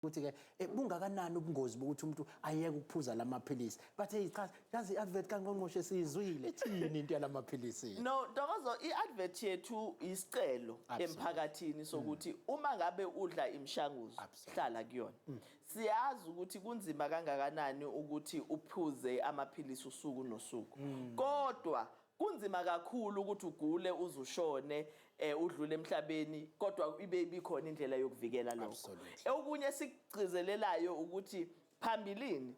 ukuthi ke eh, bungakanani ubungozi bokuthi umuntu ayeke ukuphuza lamaphilisi bathe cha yazi advert kangqongqoshe siyizwile ithini into yalamaphilisi no dokozo iadvert yethu isicelo emphakathini sokuthi mm. uma ngabe udla imishanguzo hlala kuyona mm. siyazi ukuthi kunzima kangakanani ukuthi uphuze amaphilisi usuku nosuku mm. kodwa Kunzima kakhulu ukuthi ugule uze ushone eh udlule emhlabeni kodwa ibe ibikhona indlela yokuvikela lokho. Absolutely. Okunye esikugcizelelayo ukuthi phambilini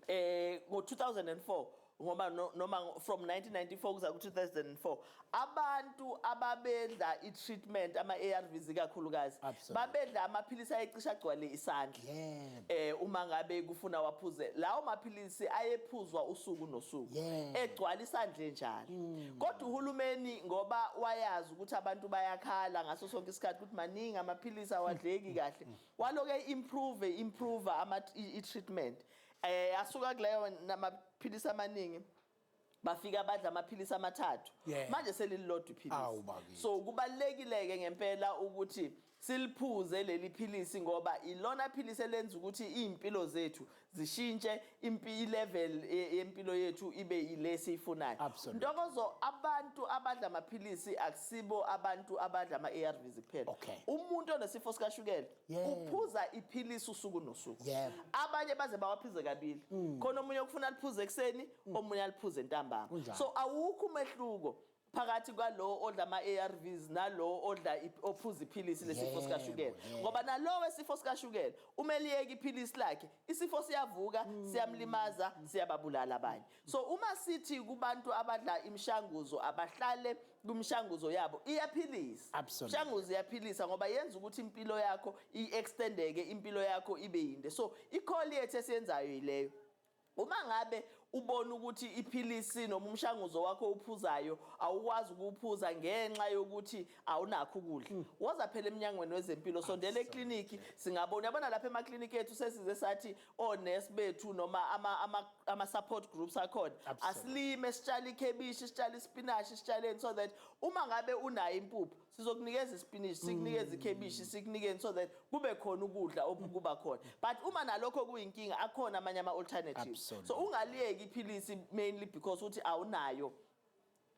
eh ngo-2004 ngoba no- noma ngo- from 1994 kuza ku-2004 abantu ababedla i-treatment ama-arvs ikakhulukazi Absolutely. babedla amaphilisi ayecisha agcwale isandla Yeah. eh uma ngabe kufuna waphuze lawo maphilisi ayephuzwa usuku nosuku Yeah. egcwala isandle njalo kodwa uhulumeni ngoba wayazi ukuthi abantu bayakhala ngaso sonke isikhathi ukuthi maningi amaphilisi awadleki kahle waloke improve improve ama i- i-treatment eh asuka kuleyo namaphilisi amaningi bafika badla amaphilisi amathathu yeah. manje selililodwa iphilisi so kubalekileke ngempela ukuthi siliphuze leli philisi ngoba ilona philisi elenza ukuthi izimpilo zethu zishintshe impi level e, yempilo yethu ibe ile siyifunayo ntokozo abantu abadla amaphilisi akusibo abantu abadla ama ARVs kuphela okay. umuntu onesifo sikashukela Yebo. uphuza iphilisi usuku nosuku Yebo. Mm. abanye baze bawaphize kabili khona omunye okufuna aliphuze ekuseni omunye aliphuze ntambama Kunjalo. so awukho umehluko phakathi kwalowo odla ama-arvs nalowo odla ip- ophuza iphilisi lesifo Yebo, sikashukela yebo. ngoba nalowo esifo sikashukela uma eliyeka iphilisi lakhe isifo siyavuka Mm. siyamlimaza siyababulala abanye So uma sithi kubantu abadla imishanguzo abahlale kumshanguzo yabo iyaphilisa. Absolutely. Imishanguzo iyaphilisa ngoba yenza ukuthi impilo yakho i-extendeke, impilo yakho ibe yinde. So i-call yethu esiyenzayo yileyo. Uma ngabe ubona ukuthi iphilisi noma umshanguzo wakho owuphuzayo awukwazi ukuwuphuza ngenxa yokuthi awunakho ukudla mm. woza phela emnyangweni wezempilo sondela ekliniki singabona yabona lapha emakliniki ethu sesize sathi onesi bethu noma ama ama ama support groups akhona Absolutely. asilime sitshale ikhebishi sitshale isipinashi sitshaleni so that uma ngabe unayo impuphu sizokunikeza isipinishi sikunikeze ikhebishi sikunikeni so that kube khona ukudla okukuba khona but uma nalokho kuyinkinga akhona amanye ama alternatives Absolutely. so ungaliyeki iphilisi mainly because uthi awunayo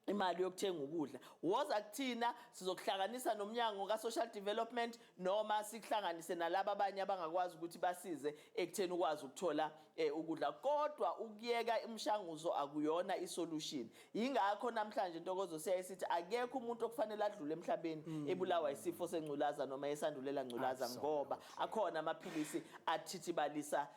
imali yokuthenga ukudla woza kuthina sizokuhlanganisa nomnyango ka-social development noma sikuhlanganise nalaba abanye abangakwazi ukuthi basize ekutheni ukwazi ukuthola um ukudla kodwa ukuyeka imishanguzo akuyona isolution yingakho namhlanje ntokozo siyaye sithi akekho umuntu okufanele adlule emhlabeni mm. ebulawa isifo sengculaza noma esandulela ngculaza ngoba akhona amaphilisi athithibalisa